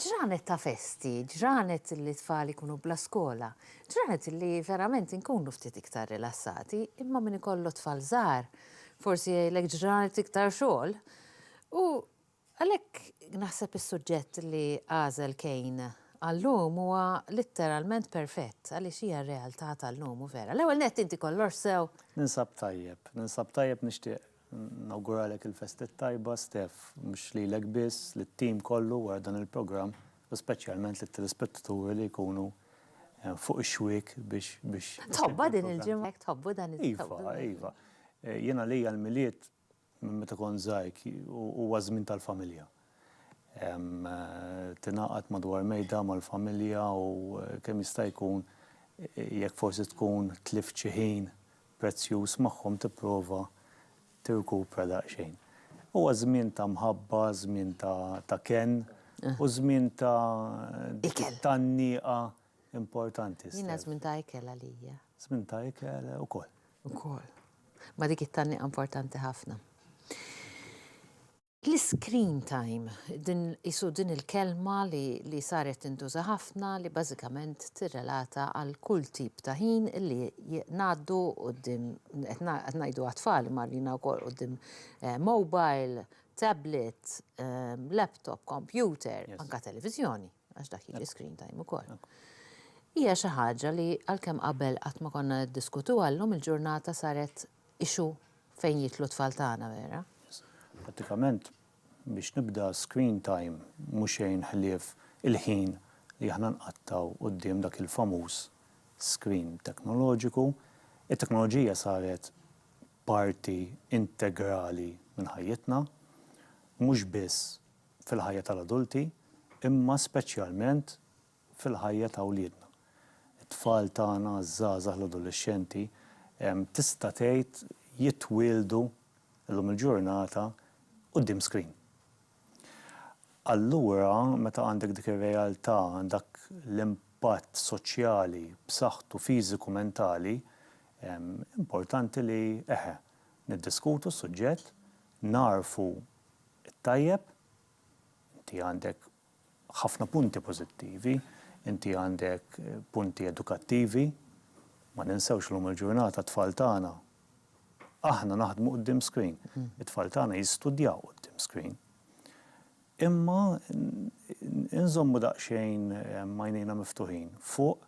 Ġranet ta' festi, ġranet li t-tfal ikunu bla skola, ġranet li verament inkunu ftit iktar rilassati, imma min ikollu t-tfal żgħar forsi jgħidlek ġranet iktar xogħol. U għalhekk naħseb is-suġġett li għażel Kane għal-lum huwa litteralment perfett għaliex hija r-realtà tal-lum u vera. L-ewwel nett inti kollox sew? Ninsab tajjeb, ninsab tajjeb nixtieq Nawguralek il-festa t-tajba, Steph, mhux lilek biss, lit-tim kollu wara dan il-programm u speċjalment lit-telespettaturi li jkunu fuq ix-xwiek biex. Tħobbha din il-ġimgħa? Tħobbu dan il-programm? Iva, iva. Jien għalija l-Milied minn meta kont żgħir huwa żmien tal-familja. tingħaqad madwar mejda mal-familja u kemm jista' jkun jekk forsi tkun tlift xi ħin prezzjuż magħhom tipprova tirkupra daqsxejn. Huwa żmien ta' mħabba, żmien ta' kenn u żmien ta' tgħanniqa importanti. Jiena żmien ta' ikel għalija. Żmien ta' ikel ukoll. Ukoll. Ma dik it-tgħanniqa importanti ħafna. L-iscreen time, din qisu din il-kelma li li saret tintuża ħafna li bażikament tirrelata għal kull tip ta' ħin li ngħaddu quddiem, qed ngħidu għat-tfal imma għalina wkoll quddiem mobile, tablet, laptop, computer, anke televiżjoni. għax dak jiġi screen time ukoll, hija xi ħaġa li għalkemm qabel qatt ma konna niddiskutuha, llum il-ġurnata saret issue fejn jidħlu t-tfal tagħna vera. Prattikament, biex nibda screen time mhu xejn ħlief il-ħin li aħna nqattgħu quddiem dak il-famuż screen teknoloġiku. It-teknoloġija saret parti integrali minn ħajjitna, mhux biss fil-ħajja tal-adulti, imma speċjalment fil-ħajja ta' wliedna. It-tfal tagħna, iż-żgħażagħ, l-adolexxenti, tista' tgħid jitwieldu llum il-ġurnata quddiem screen. Allura, meta għandek dik ir-realtà, dak l-impatt soċjali b'saħħtu fiżiku mentali, importanti li, eħe, niddiskutu s-suġġett, nagħrfu, it-tajjeb, inti għandek ħafna punti pożittivi, inti għandek punti edukattivi, ma ninsewx llum il-ġurnata t-tfal tagħna, aħna naħdmu quddiem screen, it-tfal tagħna jistudjaw quddiem screen. Imma inżommu daqsxejn għajnejna miftuħin fuq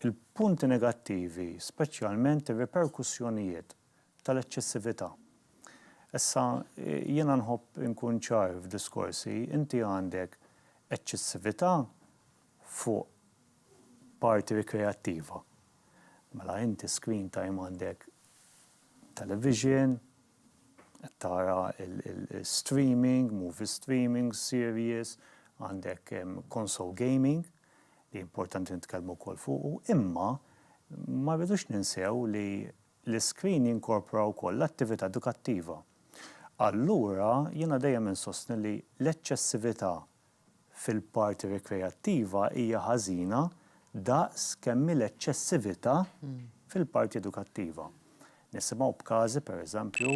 il-punti negattivi, speċjalment ir-riperkussjonijiet tal-eċċessività. Issa, jiena nħobb inkun ċar f'diskorsi, inti għandek eċċessività fuq parti rikreattiva. Mela inti screen time għandek television, qed tara l-streaming, movie streaming, series, għandek console gaming, li importanti nitkellmu wkoll fuqu, imma ma rridux ninsew li L-iskrin jinkorpora wkoll l-attività edukattiva. Allura, jiena dejjem insostni li l-eċċessività fil-parti rikreattiva hija ħażina daqs kemm hi l-eċċessività fil-parti edukattiva. Nisimgħu b'każi, pereżempju,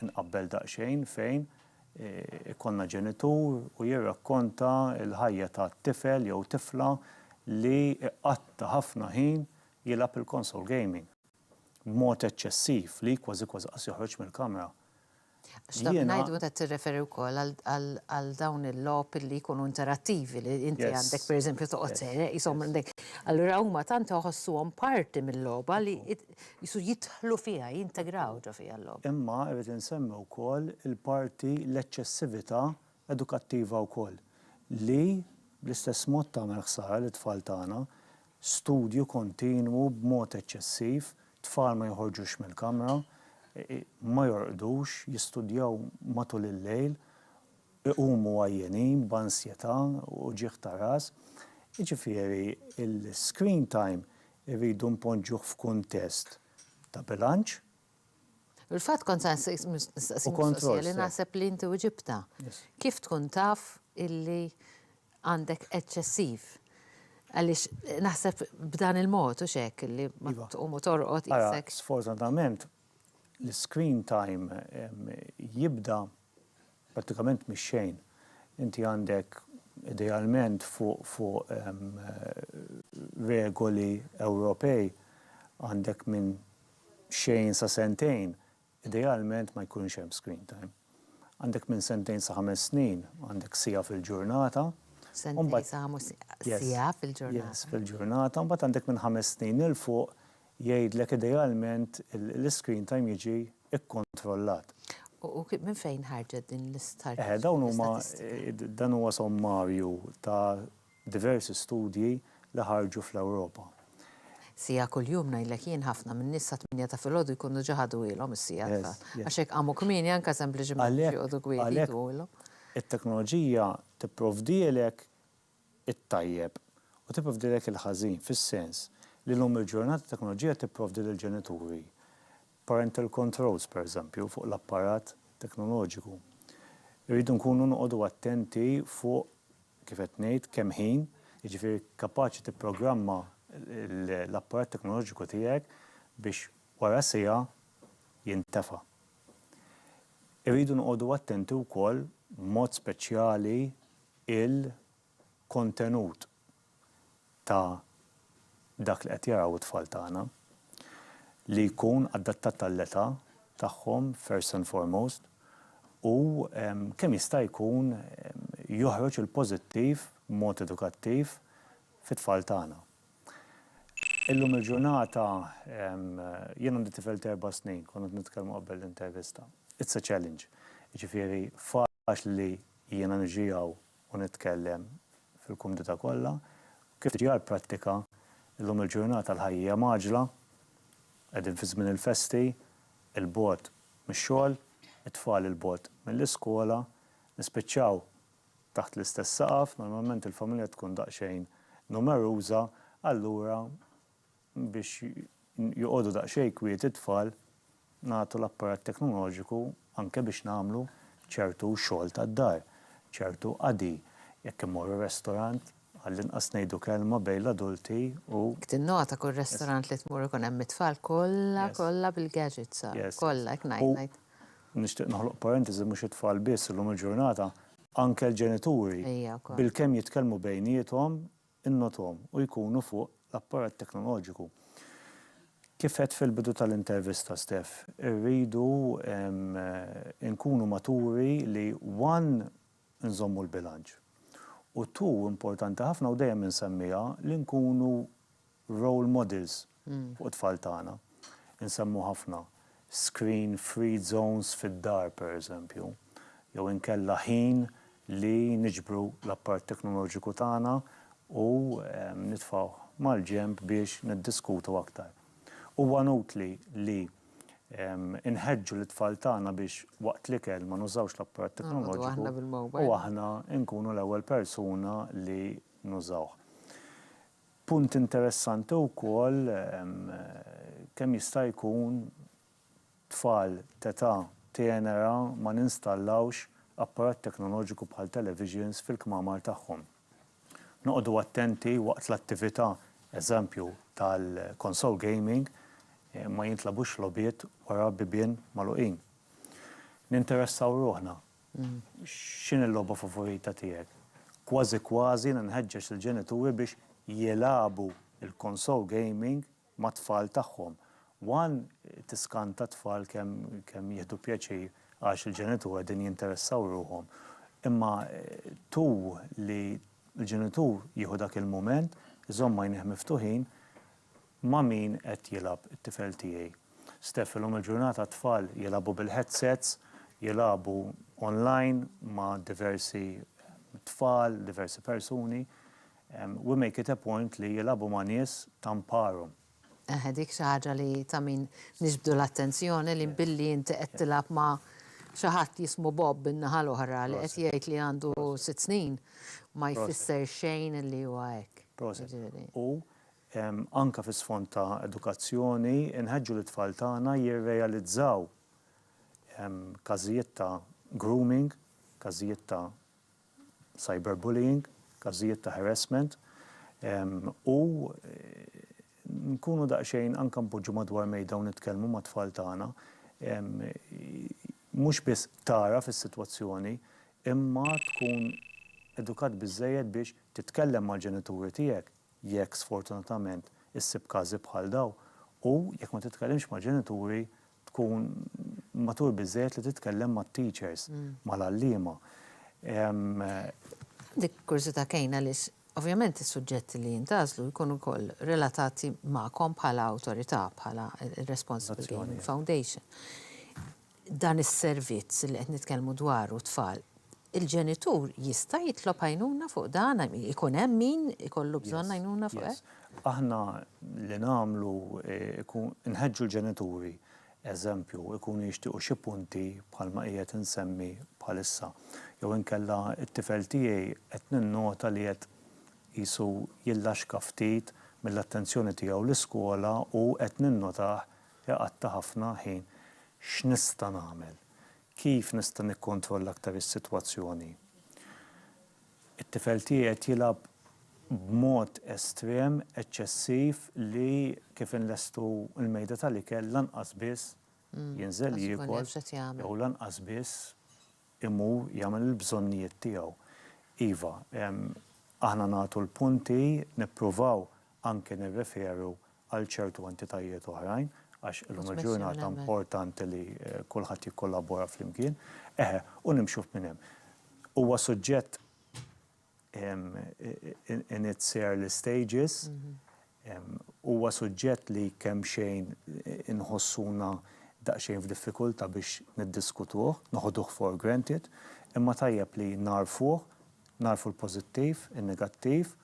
inqabbel daqsxejn, fejn ikollna ġenitur u jirrakkonta l-ħajja ta' tifel jew tifla li jqatta' ħafna ħin jilgħab il-console gaming b'mod eċċessiv li kważi kważi qas joħroġ mill-kamra. X'dak ngħid meta tirreferi wkoll għal dawn il-logħob li jkunu interattivi li inti għandek pereżempju toqgħod sejra qishom għandek. Allura huma tant iħossuhom parti mill-logħba li qisu jidħlu fiha, jintegraw ġo fiha l-logħba. Imma rrid insemmi wkoll il-parti l-eċċessività edukattiva wkoll li bl-istess mod tagħmel ħsara lit-tfal tagħna studju kontinwu b'mod eċċessiv, tfal ma joħorġux mill-kamra, ma jorqdux, jistudjaw matul il-lejl, iqumu għajjenin, b'ansjetà, uġigħ ta' ras. Jiġifieri l-screen time irridu npoġġuh f'kuntest ta' bilanċ, Fil-fatt kont se nistaqsik mistoqsija li naħseb li inti wiġibtha. Kif tkun taf illi għandek eċċessiv? Għaliex naħseb b'dan il-mod hux hekk illi meta tqum u torqod qiegħsek. Sfortunatament l-iscreen time jibda prattikament mix-xejn. Inti għandek idealment fuq regoli Ewropej għandek minn xejn sa sentejn, idealment ma jkunx hemm screen time. Għandek minn sentejn sa ħames snin, għandek siegħa fil-ġurnata. Sentejn sa ħames siegħa fil-ġurnata. Yes, fil-ġurnata. Mbagħad għandek minn ħames snin 'il fuq jgħidlek idealment l-screen time jiġi kkontrollat. U minn fejn ħarġet din l-istatistika? Dawn huma, dan huwa sommarju ta' Diversi studji li ħarġu fl-Ewropa. Siegħa kuljum ngħidlek jien ħafna min-nies sa tmienja ta' filgħodu jkunu ġa ħaduhielhom is-siegħa tfal. Għax jekk qamu kmieni anke sempliċiment biex joqogħdu kwieti jduhulhom. It-teknoloġija tipprovdielek it-tajjeb u tipprovdielek il-ħażin fis-sens li llum il-ġurnata t-teknoloġija tipprovdi lill-ġenituri parental controls pereżempju fuq l-apparat teknoloġiku. Irridu nkunu noqogħdu attenti fuq kif qed ngħid, kemm ħin, jiġifieri kapaċi tipprogramma l-apparat teknoloġiku tiegħek biex wara siegħa jintefa'. Irridu noqogħdu attenti wkoll b'mod speċjali il-kontenut ta' dak li qed jaraw it-tfal tagħna, li jkun adattat għall-età tagħhom first and foremost u kemm jista' jkun joħroġ il-pożittiv b'mod edukattiv fit-tfal tagħna. Illum il-ġurnata jien għandi tifel ta' erba' snin, konna qed nitkellmu qabel l-intervista, it's a challenge. Jiġifieri faċli li jiena niġi hawn u nitkellem fil-kumdità kollha, kif tiġi għall-prattika, illum il-ġurnata l-ħajja hija mgħaġġla, qegħdin fi żmien il-festi, il-bogħod mix-xogħol, it-tfal il-bogħod mill-iskola, nispiċċaw taħt l-istess saqaf, normalment il-familja tkun daqsxejn numeruża, allura biex joqogħdu daqsxejn kwiet it-tfal nagħtu l-apparat teknoloġiku anke biex nagħmlu ċertu xogħol tad-dar, ċertu qadi, jekk immorru restorant għall-inqas ngħidu kelma bejn l-adulti u. Jekk tinnota kull restorant li tmur ikun hemm it-tfal kollha kollha bil-gadgets sa, kollha hekk ngħid ngħid. U nixtieq noħloq parentesi mhux it-tfal biss illum il-ġurnata anke l-ġenituri bilkemm jitkellmu bejniethom innothom u jkunu fuq l-apparat teknoloġiku. Kif għedt fil-bidu tal-intervista Steph, irridu nkunu maturi li one nżommu l-bilanċ u two importanti ħafna u dejjem insemmiha li nkunu role models fuq it-tfal tagħna. Insemmu ħafna screen free zones fid-dar pereżempju, jew inkella ħin li niġbru l-apparat teknoloġiku tagħna u nitfgħuh mal-ġenb biex niddiskutu aktar. Huwa nutli li nħeġġu lit-tfal tagħna biex waqt l-ikel ma nużawx l-apparat teknoloġiku u aħna nkunu l-ewwel persuna li nużawh. Punt interessanti wkoll kemm jista' jkun tfal t'età tenera ma ninstallawx apparat teknoloġiku bħal televisions fil-kmamar tagħhom. Noqogħdu attenti waqt l-attività, eżempju, tal-console gaming, ma jintlagħbux logħbiet wara bibien magħluqin. Ninteressaw ruħna X'inhi l-logħba favorita tiegħek? Kważi kważi jiena nħeġġeġ lill-ġenituri biex jilagħbu l-konsol gaming mat-tfal tagħhom. One tiskanta t-tfal kemm jieħdu pjaċir għax il-ġenituri qegħdin jinteressaw ruħhom. Imma two li l-ġenitur jieħu dak il-mument, iżomm għajnejh miftuħin, Ma' min qed jilgħab it-tifel tiegħi? Steph, Illum il-ġurnata t-tfal jilagħbu bil-headsets, jilagħbu online ma' diversi tfal, diversi persuni. We make it a point li jilagħbu ma' nies ta' mparhom. Eħe, dik xi ħaġa li ta' min niġbdu l-attenzjoni li billi inti qed tilgħab ma' xi ħadd jismu Bob in-naħa l-oħra li qed jgħid li għandu sitt snin ma jfisser xejn li huwa hekk. Proset. U anke fi sfond ta' edukazzjoni, inħeġġu lit-tfal tagħna jirrealizzaw każijiet ta' grooming, każijiet ta' cyberbullying, każijiet ta' harassment, u nkunu daqsxejn anke npoġġu madwar mejda u nitkellmu mat-tfal tagħna, mhux biss tagħraf is-sitwazzjoni, imma tkun edukat biżżejjed biex titkellem mal-ġenituri tiegħek. jekk sfortunatament issib każi bħal dawn, u jekk ma titkellimx mal-ġenituri tkun matur biżżejjed li titkellem mat-teachers, mal-għalliema. Għandi kurżità kejn għaliex ovvjament is-suġġetti li jintgħażlu jkunu wkoll relatati magħkom bħala awtorità, bħala r-responsibbli foundation. dan is-servizz li qed nitkellmu dwaru t-tfal, il-ġenitur jista' jitlob għajnuna fuq dan? I mean, ikun hemm min ikollu bżonn għajnuna fuq hekk? Yes, yes. Aħna li nagħmlu ikun inħeġġu l-ġenituri, eżempju, ikunu jixtiequ xi punti bħalma qiegħed insemmi bħalissa. Jew inkella t-tifel tiegħi qed ninnota li qed qisu jillaxka ftit mill-attenzjoni tiegħu l-iskola u qed ninnotah Iqatta' ħafna ħin. X'nista' nagħmel? Kif nista' nikkontrolla aktar is-sitwazzjoni? It-tifel tiegħi qed jilgħab b'mod estrem, eċċessiv li kif inlestu l-mejda tal-ikel lanqas biss jinżel jiekol jew lanqas biss imur jagħmel il-bżonnijiet tiegħu. Iva, aħna nagħtu l-punti, nippruvaw anke nirreferu għal ċertu entitajiet oħrajn, għax illum il-ġurnata importanti li kulħadd jikkollabora flimkien, eħe, u nimxu minn hemm. Huwa suġġett in its early stages, huwa suġġett li kemxejn inħossuna daqsxejn f'diffikultà biex niddiskutuh, noħduh for granted, imma tajjeb li nagħrfuh, nagħrfu l-pożittiv, in-negattiv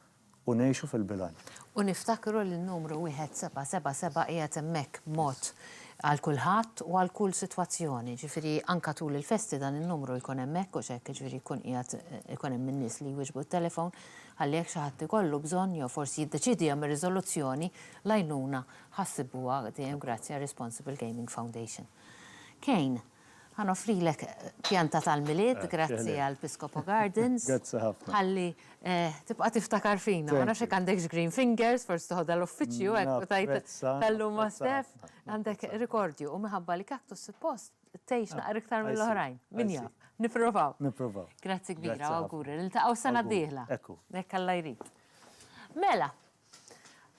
u ngħixu fil-bilanċ. U niftakru li n-numru 1777 qiegħed hemmhekk b'mod Għal kulħadd u għal kull sitwazzjoni, jiġifieri anke tul il-festi dan in-numru jkun hemmhekk hux hekk, jiġifieri jkun qiegħed ikun hemm in-nies li jwieġbu t-telefon ħalli jekk xi ħadd ikollu bżonn jew forsi jiddeċiedi jagħmel riżoluzzjoni, l-għajnuna ħa ssibuha dejjem grazzi għar-Responsible Gaming Foundation. Kane. Ħa noffrilek pjanta tal-Milied grazzi għal Piscopo Gardens. Grazzi ħafna. Ħalli tibqa' tiftakar fina. Ma nafx jekk għandekx green fingers, forsi toħodha l-uffiċċju hekk u tgħid tal-lum ma' Stef. Għandek rikordju u minħabba li Cactus suppost tgħix naqra iktar mill-oħrajn. Min jaf. Nipprovaw. Nipprovaw. Grazzi kbira u awguri. Niltaqgħu s-sena d-dieħla. Hekk hu. Hekk Alla jrid. Mela.